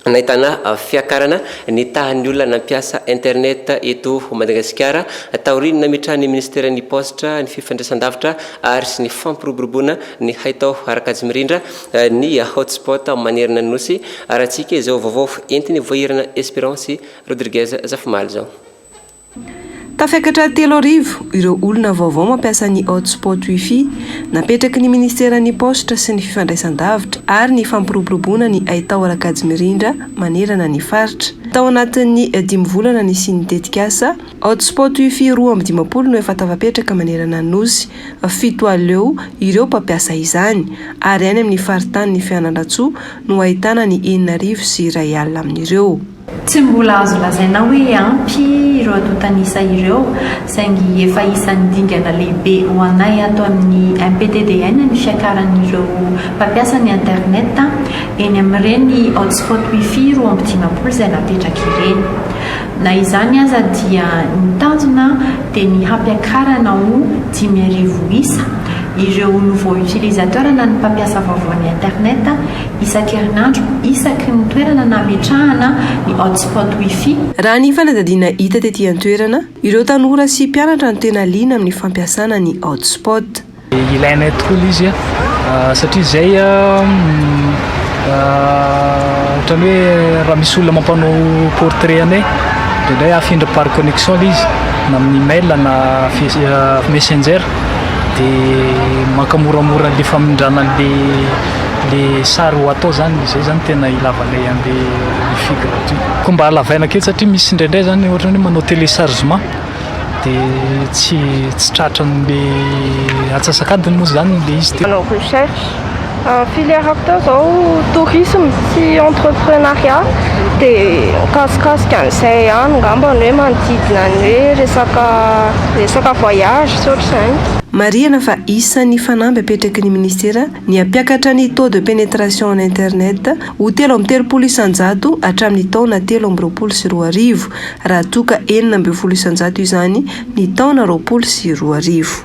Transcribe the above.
Nahitana fiakarana ny tahan'ny olona nampiasa internet eto Madagasikara, taorian'ny nametrahan'ny Ministeran'ny Paositra, ny Fifandraisandavitra ary sy ny Fampiroboroboana ny Haitao ara-kajimirindra ny Hotspot manerana ny Nosy, raha tsy ika izao vaovao entin'i Voahirana Esperance Rodriguez Zafimaly izao. Tafiakatra telo arivo ireo olona vaovao mampiasa ny hotspot Wi-Fi napetraky ny Ministeran'ny Paositra sy ny Fifandraisandavitra ary ny Fampiroboroboana ny Haitao Rakajimirindra manerana ny faritra. Tao anatin'ny dimy volana nisian'ny tetikasa, hotspot Wi-Fi roa amby dimampolo no efa tafapetraka manerana ny Nosy, fito aleo ireo mpampiasa izany, ary any amin'ny faritanin'i Fianarantsoa no ahitana ny enina arivo sy iray alina amin'ireo. Tsy mbola azo lazaina hoe ampy ireo antontan'isa ireo, saingy efa isan'ny dingana lehibe ho anay ato amin'ny MPTDN ny fiakaran'ireo mpampiasa ny internet eny amin'ireny hotspot wifi roa amby dimampolo izay napetraka ireny. Na izany aza dia ny tanjona dia ny hampiakarana ho dimy arivo isa ireo nouveaux utilisateurs na ny mpampiasa vaovao ny internet isan-kerinandro isaky ny toerana nametrahana ny hotspot Wi-Fi. Raha ny fanadihadiana hita tety an-toerana, ireo tanora sy mpianatra no tena liana amin'ny fampiasana ny hotspot. Ilainay tokoa ilay izy satria izay ohatran'ny hoe raha misy olona mampanao portrait anay dia indray afindra par connexion ilay izy na amin'ny mail na messenger dia mankamoramora an'ilay famindràna an'ilay Le sary ho atao zany izay zany tena ilavanay anle wifi gratuit. Koa mba halavaina kely satria misy indraindray zany ohatrany hoe manao téléchargement de tsy tsy tratranle atsasakadiny moa zany le izy de. Manao recherche filière hita zao tourisme sy entreprenariat de mikasikasika an'izay ihany ngambany hoe manodidina ny hoe resaka resaka voyage sy ohatr'izany. Marihana fa isan'ny fanamby apetraky ny Minisitera ny hampiakatra ny taux de pénétration en internet ho telo amby telopolo isan-jato hatramin'ny taona telo amby roapolo sy roa arivo, raha toa ka enina ambin'ny folo isan-jato izany ny taona roapolo sy roa arivo.